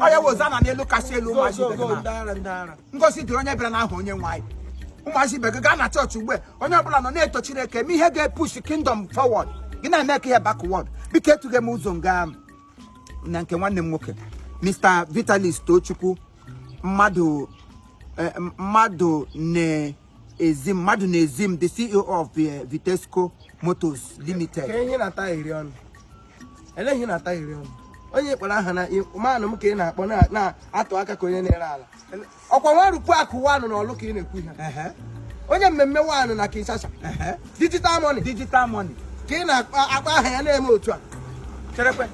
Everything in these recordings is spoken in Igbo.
onye hozana n'elu kasị elu ụmụazị ibe gị na ngozi dịrị onye bịara n'aha onye nwe anyị ụmụazị ibe gị gaa na chọọchị ugbu a onye ọbụla nọ na-eto chineke eme ihe ga-epush kingdom forward gị na-eme ka ihe backward biko etughị m ụzọ nga na nke nwanne m nwoke mr vitalis tochukwu mmadụ eh, mmadụ na ezi mmadụ na-ezi m the CEO of eh, Vitesco Motors Limited ka ihe na-ata iri ọnụ ele ihe na-ata iri ọnụ onye kpọrọ aha na manụ m ka ị na-akpọ na- na-atụ aka ka onye na-ere ala ọkwa nwa rupu akụ one na Orlu ka ị na-ekwu ihe Ehe, onye mmemme one na Kinshasa ehe. digital money digital money ka ị na-akpa akpa aha ya na-eme otu a cherekwe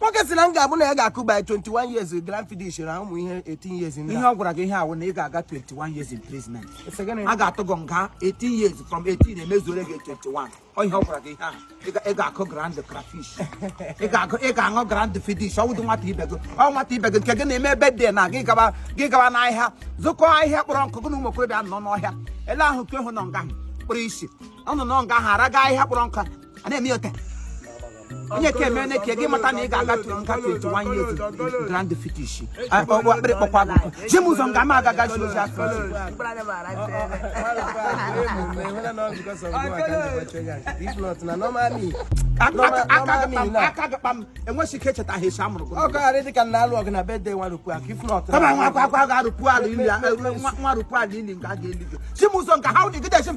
nwoke sị na m ga-abụ na ya ga-akụ by 21 years Glenfiddich na ụmụ ihe 18 years ndị ihe ọ gwara gị ihe a wụ na ị ga-aga 21 years imprisonment a ga-atụ gị nga 18 years from 18 emezuore gị 21 ọ ihe ọ gwara gị ihe ahụ Ị ga- ị ga-akụ grand crayfish ị ga-agụ- ị ga-aṅụ Glenfiddich ọ wụdị nwata ibe gị ọ nwata ibe gị nke gị na-eme birthday na gị gaba gị gaba n'ahịa zụkọọ ahịhịa kpọrọ nkụ gị na ụmụ okorobịa nọ n'ọhịa ele ahụ nke ahụ nọ nga ahụ kpụrụ isi ọ nọ nọ nga ahụ araga ahịhịa kpọrọ nkụ a na-eme ote onye ka eme ka gị mata na ị ga-agatu nga 21 years Glenfiddich akpịrị kpọkwa gị nkụ ji m ụzọ nga m agaga ji ozi afọ aka gakpa m enweghị ike echeta ha esi amụrụ ọgagharị dịka na alụ ọgụ na birthday nwa rupu akụ if not kama nwa akwa akwa ga-arụpụ ala ili nwa rụpụ ala ili nga a ga-eli gị ji m ụzọ nke ha ụdị gị dechi m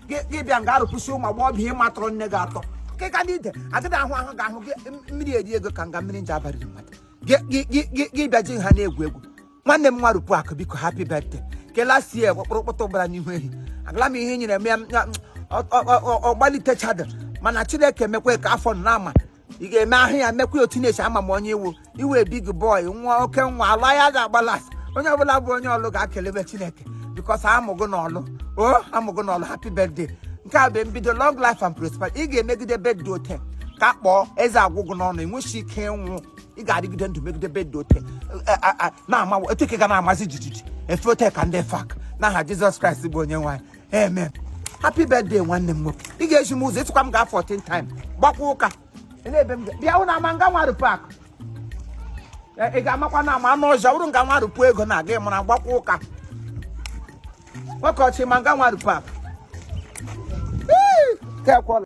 gị bịa nga arụpụsị ụmụ agbọghọbịa ị ma tọrọ nne gị atọ ka ka ndị ide agịda ahụ ahụ ga-ahụ gị mmiri eri ego ka nga mmiri nje abalị mmadụ gị bịa ji ha na-egwu egwu nwanne m nwa rupu akụ biko happy birthday kelasie kpọrọkpọtọ gbara n'ihu ehi agala m ihe nyere m ya ọ gbalitechadị mana chineke mekwe ka afọ na ama ị ga-eme ahụ ya mekwa otu na-esi ama m onye ị wụ ị wụ big boy nwa oke nwa ala ya ga-agbala onye ọbụla bụ onye Orlu ga-akelebe chineke because a mụ gị na Orlu o a mụ gị na Orlu happy birthday nke a bụ mbido long life and prosperity ị ga-emegide birthday ote ka kpọọ eze agwụ gị n'ọnụ enweghị ike ịnwụ ị ga-adịgide ndụ megide birthday ote e, e, e, na-amawa otu ike ga na-amazi jijiji efe ote ka ndị fak n'aha jizọs kraịst bụ onye nwe anyị amen happy birthday nwanne m nwoke ị ga-eji m ụzọ ịtụkwa m gaa 14 time gbakwa ụka Ele ebe m ga- bịa hụ na ama nga nwa rupu akụ ị ga-amakwa na ama anụ ọzọ bụrụ nga nwa rupu ego na-aga ịmara gbakwa ụka nwoke ọchị ma nga nwa rupu akụ Ee, ka ekwọla